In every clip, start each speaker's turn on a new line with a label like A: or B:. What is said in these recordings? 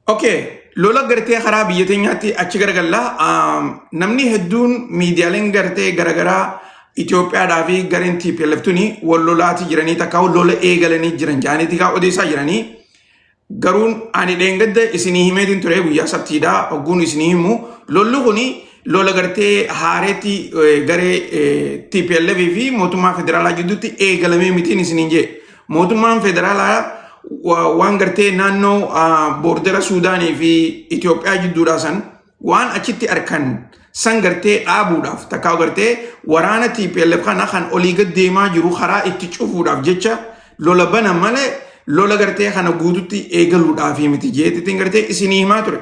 A: Okay, lola gartee karaa biyya teenyaatti achi garagalla. Namni hedduun miidiyaaleen gartee garagaraa Itoophiyaadhaa fi gareen TPLF tuni wal lolaati jiranii takka lola eegalanii jiran jaaniitii kaa odeessaa jiranii. Garuu ani dheengadda isinii himeetiin ture guyyaa sabtiidha ogguun isinii himu lolli kun lola gartee haareetti garee TPLF fi mootummaa federaalaa gidduutti eegalamee mitiin isiniin jee. Mootummaan federaalaa wa- waan gartee naannoo ah, boordera Suudaanii fi Itoophiyaa jidduudhaa san waan achitti arkan san gartee dhaabuudhaaf takkaa gartee waraana TPLF kana kan olii gad deemaa jiru karaa itti cufuudhaaf jecha lola bana malee lola gartee kana guututti eegaluudhaaf miti jeetitiin gartee isinii himaa ture.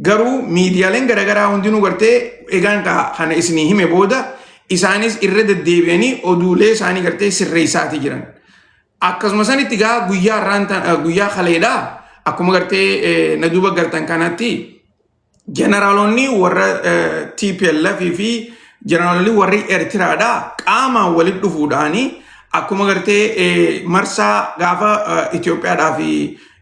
A: Garuu miidiyaaleen garaagaraa hundinuu gartee egaan kana isinii hime booda isaanis irra deddeebi'anii oduulee isaanii gartee sirreessaati jiran. Akkasuma sanitti gaa guyyaa irraan guyyaa kaleedha akkuma gartee na duuba gartan kanatti jeneraalonni warra TPLF fi jeneraalonni warri Eertiraadha qaamaan walitti dhufuudhaani akkuma gartee marsaa gaafa Itoophiyaadhaa fi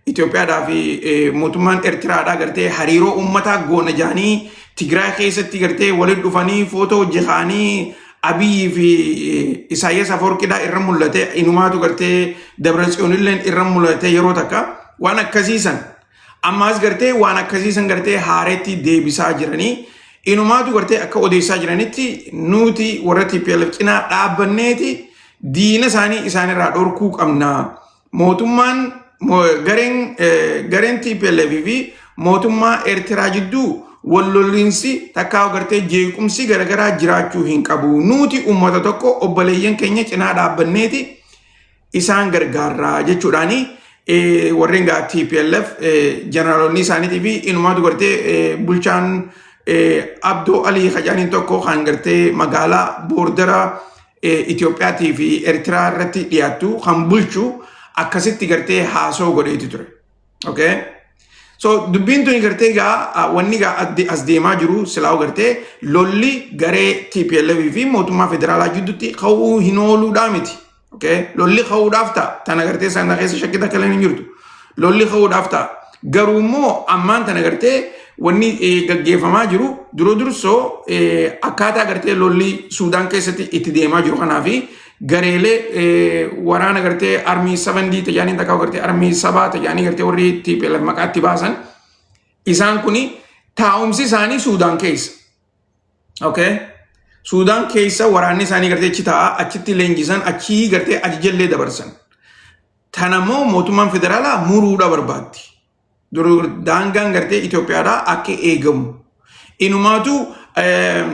A: Itoophiyaadhaa fi mootummaan Ertiraadhaa gartee hariiroo uummataa goona jaanii Tigraay keessatti gartee waliin dhufanii footoo hojjetaanii Abiyyi fi Isaayyaas Afoorqidhaa irra mul'ate inumaatu gartee Dabratsiyoonilleen irra mul'ate yeroo takka waan akkasiisan ammaas gartee waan akkasiisan gartee haareetti deebisaa jiranii inumaatu gartee akka odeessaa jiranitti nuti warra TPLF cinaa dhaabbanneeti diina isaanii isaanirraa dhorkuu qabna. mootummaan gareen gareen TPLF fi mootummaa Eertiraa jidduu wal lolliinsi takkaa agartee jeequmsi garagaraa jiraachuu hin qabu. Nuuti uummata tokko obboleeyyan keenya cinaa dhaabbanneeti isaan gargaarraa jechuudhaani warreen gaa TPLF jeneraalonni isaaniitii fi inumaatu gartee bulchaan Abdoo Alii Hajaaniin tokko kan gartee magaalaa boordara Itoophiyaatii fi Ertiraa irratti dhiyaattu kan bulchu akkasitti gartee haasoo godheeti ture. Okay? So dubbiin tuni gartee gaa wanni gaa adde- as deemaa jiru silaa gartee lolli garee TPLF fi mootummaa federaalaa jidduutti ka'uu hin ooluudhaa miti. Okay? Lolli ka'uudhaaf ta'a. Tana gartee sana keessa shakkii takka illee hin jirtu. lolli ka'uudhaaf ta'a. Garuu immoo ammaan tana gartee wanni eh, gaggeeffamaa jiru dura dursoo eh, akkaataa gartee lolli Suudaan keessatti itti deemaa jiru kanaa fi gareelee eh, waraana gartee armii 7D tajaajilin takka gartee armii sabaa tajaajilin gartee warri itti maqaatti baasan isaan kuni taa'umsi isaanii Suudaan keessa. Okay. Suudaan keessa waraanni isaanii gartee achi taa'aa achitti leenjisan achii gartee ajajallee dabarsan. Tana immoo mootummaan federaalaa muruudha barbaaddi. Dur- Daangaan gartee Itoophiyaadhaa akka eegamu. Inumaatu eem,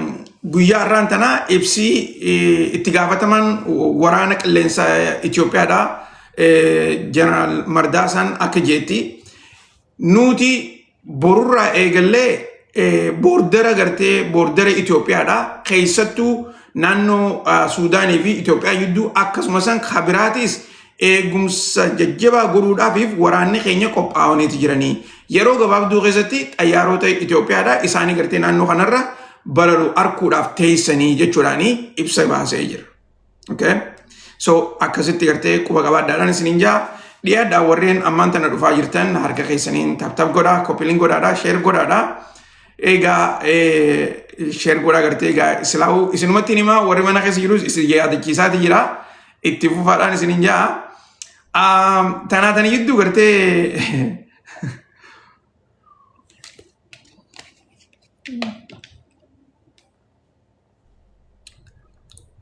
A: guyyaa har'aan tanaa ibsi eh, itti gaafatamaan waraana qilleensa Itoophiyaadhaa eh, Jeneraal Mardaasaan akka jeetti nuti borurraa eegallee eh, boordara gartee boordara Itoophiyaadha keessattuu naannoo ah, Suudaanii fi Itoophiyaa gidduu akkasumas san kabiraatis eegumsa jajjabaa godhuudhaafiif waraanni keenya qophaa'aniiti jiranii yeroo gabaabduu keessatti xayyaarota Itoophiyaadha isaanii gartee naannoo kanarra balalu arkuudhaaf teessanii jechuudhaanii ibsa baasee jira. Okay? So akkasitti gartee quba qabaadhaadhaan isiniin jaa dhiyaadhaa warreen ammaan tana dhufaa jirtan harka keessaniin taptap godhaa koppiliin godhaadhaa sheer godhaadhaa egaa sheer godhaa gartee egaa islaa'u isinumatti himaa warri mana keessa jirus isin yaadachiisaati jira itti fufaadhaan isiniin jaa tanaa tani jidduu gartee Mm.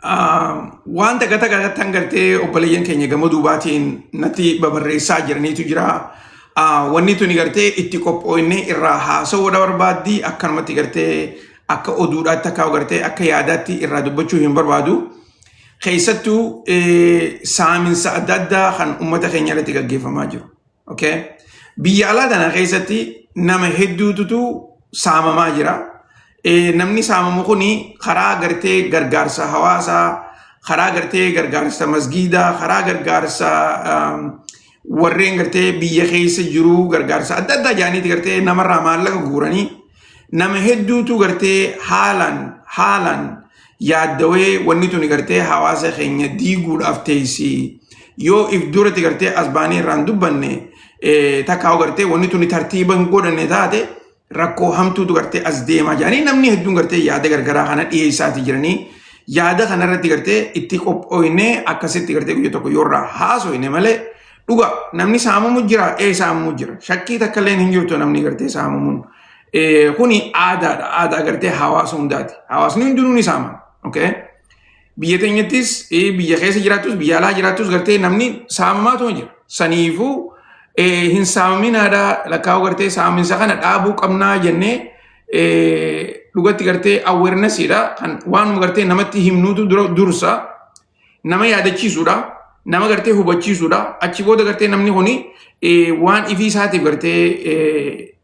A: Waan takka takka irratti hangartee obboleeyyan keenya gama duubaatiin natti babarreessaa jiraniitu jira. Wanni tuni gartee itti qophooyne irraa haasawuudha barbaaddi akkanumatti gartee akka oduudhaatti akka gartee akka yaadaatti irraa dubbachuu hin barbaadu. Keessattuu saaminsa adda addaa kan uummata keenya irratti gaggeeffamaa jiru. Okay? Biyya alaa tana keessatti nama hedduututu saamamaa jira. Eh, Namni saamamu kun karaa gartee gargaarsa hawaasaa, karaa gartee gargaarsa masgiidaa, karaa gargaarsa um, warreen gartee biyya keessa jiru gargaarsa adda addaa jaaniiti gartee namarraa maallaqa guuranii Nama hedduutu gartee haalaan haalaan yaaddawee wanni tuni gartee hawaasa keenya diiguudhaaf teessi. Yoo if duratti gartee as baanee irraan dubbanne eh, takkaa gartee wanni tuni tartiiba hin godhanne taate rakkoo hamtuutu gartee as deemaa jedhanii namni hedduun gartee yaada gargaraa kana dhiyeessaatii jiranii yaada kanarratti gartee itti qophooyne akkasitti gartee guyya tokko yoo irraa haasoyne malee Dhugaa namni saamamu jira ee saamamu jira. Shakkii takka illee hin jirtu namni gartee saamamuun. Eh, Kuni aadaadha. Aadaa gartee hawaasa hundaati. Hawaasni hundinuu ni saamama. Okay? Biyya teenyattis eh, biyya keessa jiraattus biyya alaa jiraattus gartee namni saamamaatuma jira. Saniifuu eh, hin saamaminaadha lakkaa'uu gartee saaminsa kana dhaabuu qabnaa jennee eh, dhugatti gartee awareness dha kan waanuma gartee namatti himnuutu dura- dursa. nama yaadachiisuudha nama gartee hubachiisuudha achi booda gartee namni kuni waan ifii isaatiif gartee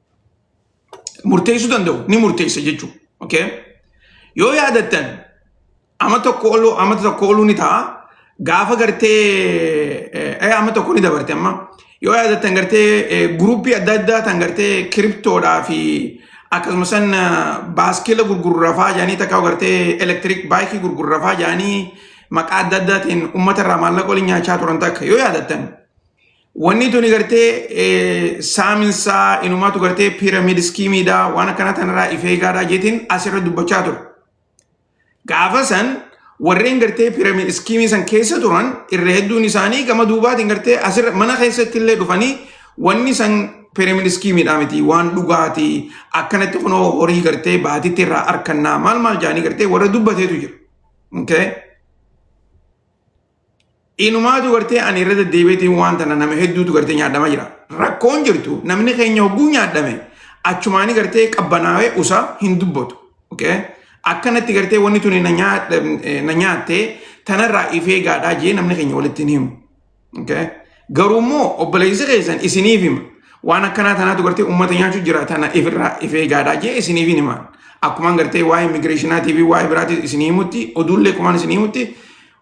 A: murteessuu danda'u ni murteessa jechuudha. Okay? Yoo yaadattan amma tokko oluu amma tokko oluu ni ta'a gaafa gartee amma tokko ni dabarte amma Yoo yaadattan gartee guruppii adda addaa tan gartee kiriptoodhaa fi akkasuma san baaskila gurgurrafaa jedhanii takka gartee elektiriik baayikii gurgurrafaa jedhanii maqaa adda addaatiin uummata irraa maallaqa waliin nyaachaa turan takka yoo yaadattan. Wanni tuni gartee saaminsaa inumaatu gartee piiramiid iskiimiidhaa waan akkana tanarraa ifeegaadhaa jeetiin asirra dubbachaa ture. Gaafa san warreen gartee piramid iskiimii san keessa turan irra hedduun isaanii gama duubaatiin gartee asirra mana keessatti illee dhufanii wanni san piramid iskiimiidhaa miti waan dhugaati akkanatti kunoo horii gartee baatitti irraa arkannaa maal maal jaanii gartee warra dubbateetu jira. Okay? Inumaatu gartee ani irra deddeebiitiin waan tana nama hedduutu gartee nyaadhama jira. Rakkoon jirtu namni keenya hogguu nyaadhame achumaanii gartee qabbanaawee usaa hin dubbatu. Okay? Akkanatti gartee wanni tuni na nyaa- na nyaattee tanarraa ifee gaadhaa jee namni keenya walitti hin himu. Okay? Garuu immoo obboleessi keessan isiniif hima. Waan akkanaa tanaatu gartee uummata nyaachuu jira tana ifirraa ifee gaadhaa jee isiniif hin himan. Akkumaan gartee waa'ee immigireeshinaatii fi waa'ee biraatii isinii himutti oduullee kumaan isinii himutti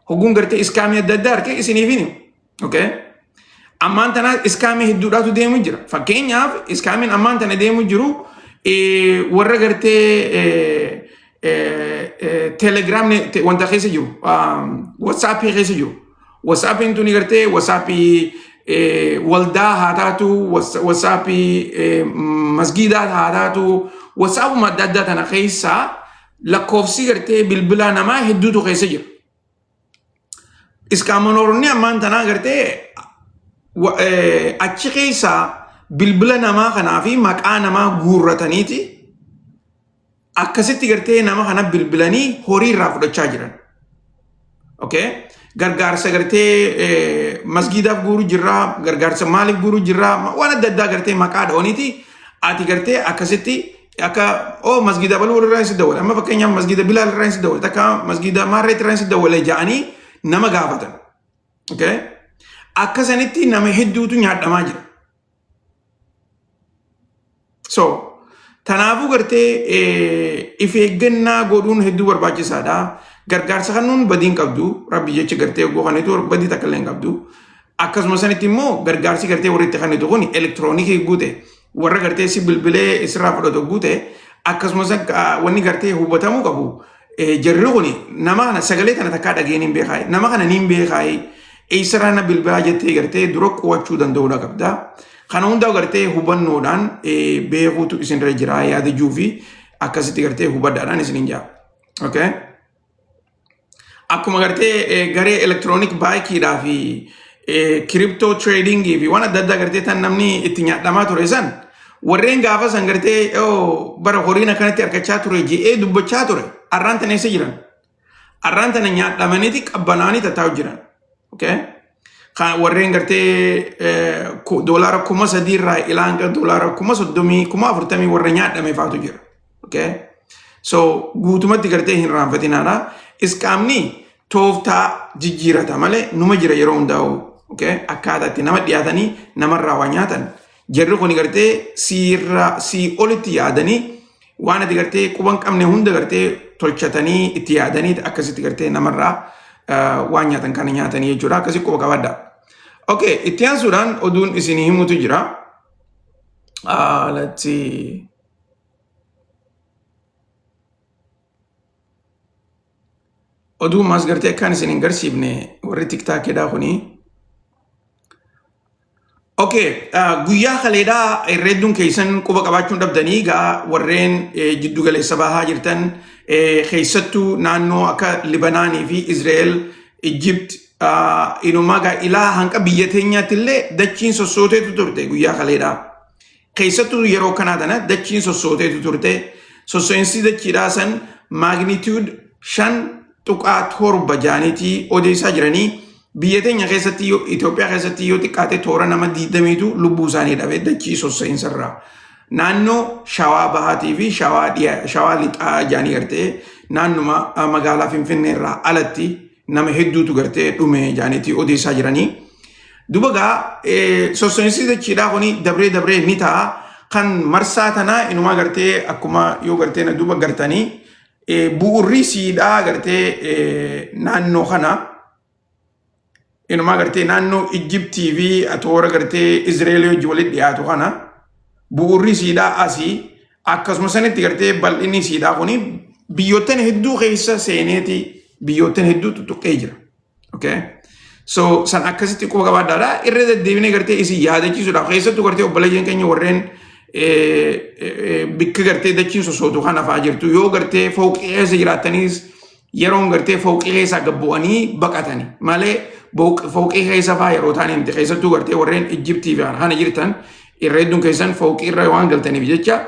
A: Hogguun gartee iskaamii adda addaa argee isiniif hin himu. Okay? Ammaan tana iskaamii hedduudhaatu deemu jira. Fakkeenyaaf iskaamiin ammaan tana deemu jiru eh, warra gartee eh, eh, eh, telegram ne- te- wanta keessa jiru um, whatsapp keessa jiru. Whatsappiin tuni gartee whatsaappii eh, waldaa haa taatu, whats- whatsaappii eh, masgiidaa haa taatu, whatsappuma adda addaa tana keessaa lakkoofsi gartee bilbilaa namaa hedduutu keessa jira. Iskaamanooronni ammaan tanaa gartee wa- eh, achi keessaa bilbila namaa kanaa fi maqaa namaa guurrataniiti akkasitti gartee nama kana bilbilanii horii irraa fudhachaa jiran. Okay? Gargaarsa gartee masgiidaaf guuru jirraa, gargaarsa maaliif guuru jirraa, ma- waan adda addaa gartee maqaa dha'ooniiti. Ati gartee akkasitti akka oo masgiida baluu irraa hin si dawwale. Amma fakkeenyaaf masgiida bilaal irraa hin si dawwale. Takka masgiida maarreet irraa hin si dawwale ja'anii nama gaafatan. Okay? Akka sanitti nama hedduutu nyaadhamaa jira. So, tanaafuu gartee if eeggannaa godhuun hedduu barbaachisaadha. Gargaarsa kennuun badii hin qabdu. Rabbi jecha gartee oguu kanitu badii takka illee hin qabdu. Akkasuma sanitti immoo gargaarsi gartee warri itti kanitu kun elektiroonikii guute warra gartee si bilbilee isirraa fudhatu guute akkasuma wanni gartee hubatamuu qabu Jarri kun nama kana sagalee kana takkaa dhageen hin beekaayi. Nama kana niin beekaayi. Eessarraa na bilbilaa jettee gartee dura qo'achuu danda'uudha qabda. Kana hundaa gartee hubannoodhaan beekuutu isinirra jira yaada juu fi akkasitti gartee hubadhaadhaan isinin jaa. Okay? Akkuma gartee garee elektiroonik baayikiidhaa fi kiriptoo tireedingii fi waan adda addaa gartee tan namni itti nyaadhamaa ture san warreen gaafa san gartee bara horiin akkanatti argachaa ture je'ee dubbachaa ture arraan tan eessa jiran arraan tana nyaadhamaniiti qabbanaanii tattaa'u jiran warreen gartee doolaara kuma sadiirraa ilaan doolaara kuma soddomii kuma afurtamii warra nyaadhame faatu jira. Okay? So guutumatti gartee hin raanfatinaadha. Isqaamni tooftaa jijjiirata malee numa jira yeroo hundaa'u. Okay? Akkaataa itti nama dhiyaatanii namarraa waa nyaatan. Jarri kun gartee siirraa sii olitti yaadanii waan ati gartee quba hin qabne hunda gartee tolchatanii itti yaadanii akkasitti gartee namarraa ah, waan nyaatan kana nyaatanii jechuudha. Akkasii quba qabadha. Okay, itti aansuudhaan oduun isin himutu jira. Ah, let's see. oduu maas gartee akkaan isin hin garsiifne warri tiktaakeedhaa kunii Okay, uh, guyyaa kaleedhaa herreedduun keessan quba qabaachuun dhabdanii egaa warreen eh, jiddu galeessa bahaa jirtan eh, keessattuu naannoo akka Libanaanii fi Izraa'el, Ijipt, uh, inumaa gaa ilaa hanga biyya teenyaatti illee dachiin sossooteetu turte guyyaa kaleedhaa. Keessattuu yeroo kanaa tana dachiin sossooteetu turte. Sosso'iinsi dachiidhaa san maagniitiyuud shan tuqaa torba jaaniitii odeessaa jiranii biyya teenya keessatti yoo Itoophiyaa keessatti yoo xiqqaate toora nama diidamiitu lubbuu isaanii dhabe dachii sosso'iinsa irraa. Naannoo shawaa bahaatii fi shawaa dhiyaa shawaa lixaa jaanii gartee naannuma magaalaa Finfinnee irraa alatti nama hedduutu gartee dhume jaaniitii odeessaa jiranii. Duba gaa sossoinsi dachiidhaa kuni dabree dabree ni ta'a. Kan marsaa tanaa inumaa gartee akkuma yoo gartee na duba gartanii bu'urri siidhaa gartee naannoo kana inumaa gartee naannoo Ijjibtii fi atoora gartee Izreelii hojii walitti dhiyaatu kana bu'urri siidhaa asii Akkasuma sanitti gartee bal'inni siidhaa kun biyyoottan hedduu keessa seeneeti biyyoottan hedduu tuttuqqee jira. Okay? So san akkasitti quba qabaadhaadha. Irra deddeebinee gartee isin yaadachiisuudhaaf keessattuu gartee obboleeyyan keenya warreen bikka gartee dachiin sossootu kan hafaa jirtu yoo gartee fooqii keessa jiraattaniis yeroon gartee fooqii keessaa gad bu'anii baqatani malee booq- fooqii keessa faa yeroo taane miti keessattuu gartee warreen Ijjibtii fi kana jirtan irra hedduun keessan fooqii irra waan galtaniif jecha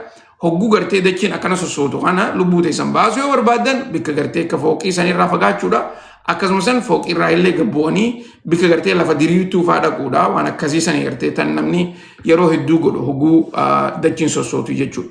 A: hogguu gartee dachiin akkana sossootu kana lubbuu teessan baasuu yoo barbaadan bikka gartee akka fooqii san irraa fagaachuudha akkasumas san fooqii irraa illee gad bu'anii bikka gartee lafa diriirtuu faa dhaquudha waan akkasii sanii gartee tan namni yeroo hedduu godhu hogguu ah, dachiin sossootu jechuudha.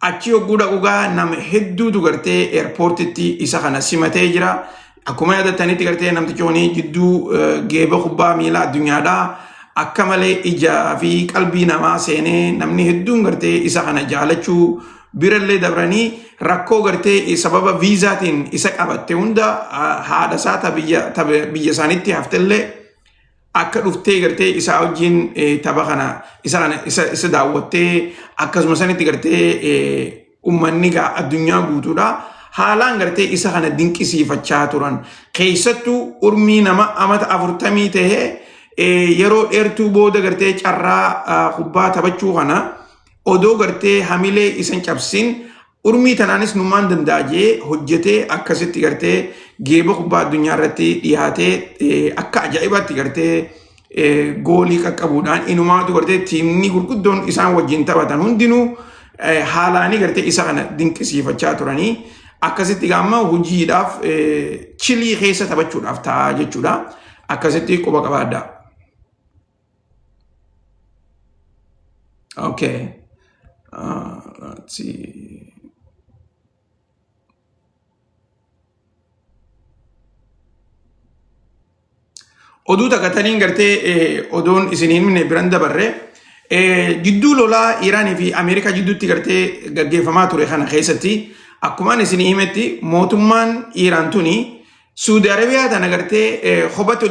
A: Achi yogguu dhaqu gaa nama hedduutu gartee eerpoortitti isa kana simatee jira. Akkuma yaadattanitti gartee namtichi kun jidduu geeba kubbaa miilaa addunyaadha. Akka malee ijaa fi qalbii namaa seenee namni hedduun gartee isa kana jaalachuu birallee dabranii rakkoo gartee sababa viizaatiin isa qabatte hunda haadha isaa biyya isaanitti haftellee akka dhuftee gartee isaa wajjin eh, tapha kana isa kana isa isa daawwattee akkasuma sanitti gartee eh, ummanni gaa addunyaa guutuudha haalaan gartee isa kana dinqisiifachaa turan keessattuu urmii nama amata afurtamii tahee eh, yeroo dheertuu booda gartee carraa ah, kubbaa taphachuu kana odoo gartee hamilee isan cabsin Urmii tanaanis numaan danda'a jee hojjetee akkasitti gartee geeba kubbaa addunyaa irratti dhiyaatee akka ajaa'ibaatti gartee goolii qaqqabuudhaan inumaatu gartee tiimni gurguddoon isaan wajjin taphatan hundinuu haalaanii gartee isa kana dinqisiifachaa turanii akkasitti gaamma hojiidhaaf chilii keessa taphachuudhaaf ta'a jechuudha akkasitti quba qabaaddaa. Okay. Uh, let's see. Oduu takataniin gartee eh, odoon isiniin minne biran dabarre eh, jidduu lolaa Iiraanii fi Ameerikaa jidduutti gartee gaggeeffamaa ture kana keessatti akkumaan isinii himetti mootummaan Iiraan tuni Suudi Arabiyaa tana gartee hobatti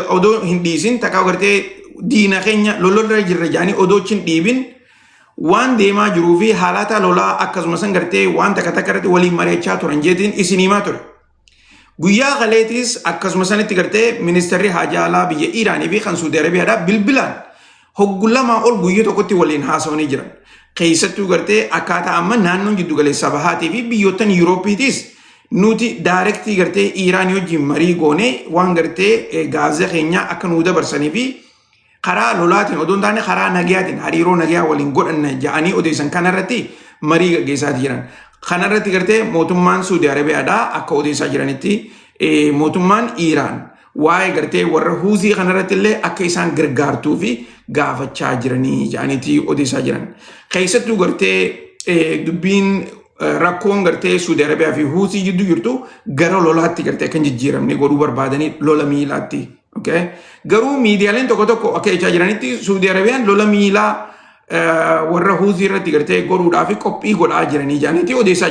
A: odoo hin dhiisin takka gartee diina keenya lololra jirra jedhanii odoo hin dhiibin waan deemaa jiruu fi haalaataa lolaa akkasumas gartee waan takka takka irratti waliin mari'achaa turan jeetiin isin himaa ture. Guyyaa kaleetis akkasuma sanitti gartee ministeerri haajaa alaa biyya Iiraanii fi kan Suudi Arabiyaadhaa bilbilaan hoggu lamaa ol guyya tokkotti waliin haasawanii jiran. Keessattuu gartee akkaataa amma naannoon jiddu galeessaa bahaatii fi biyyoottan Yuurooppiitiis nuti daayirektii gartee Iiraan wajjin marii goonee waan gartee gaazee keenyaa akka nuu dabarsanii fi karaa lolaatiin odoo hin taane karaa nagayaatiin hariiroo nagayaa waliin godhanna ja'anii odeessan kanarratti marii gaggeessaa jiran. Kanarratti gartee mootummaan Suudi Arabiyaadhaa akka odeessaa jiranitti mootummaan Iiraan waa'ee gartee warra huuzii kanarratti illee akka isaan gargaartuu fi gaafachaa jiranii jedhaniiti odeessaa jiran. Keessattuu gartee eh, dubbiin eh, rakkoon gartee Suudi Arabiyaa fi Huusii jidduu jirtu gara lolaatti gartee kan jijjiiramne godhuu barbaadanii lola miilaatti. Okay? Garuu miidiyaaleen tokko tokko akka jechaa jiranitti Suudi Arabiyaan lola miilaa eh, warra Huusii irratti gartee godhuudhaa fi qophii godhaa jiranii jedhaniiti odeessaa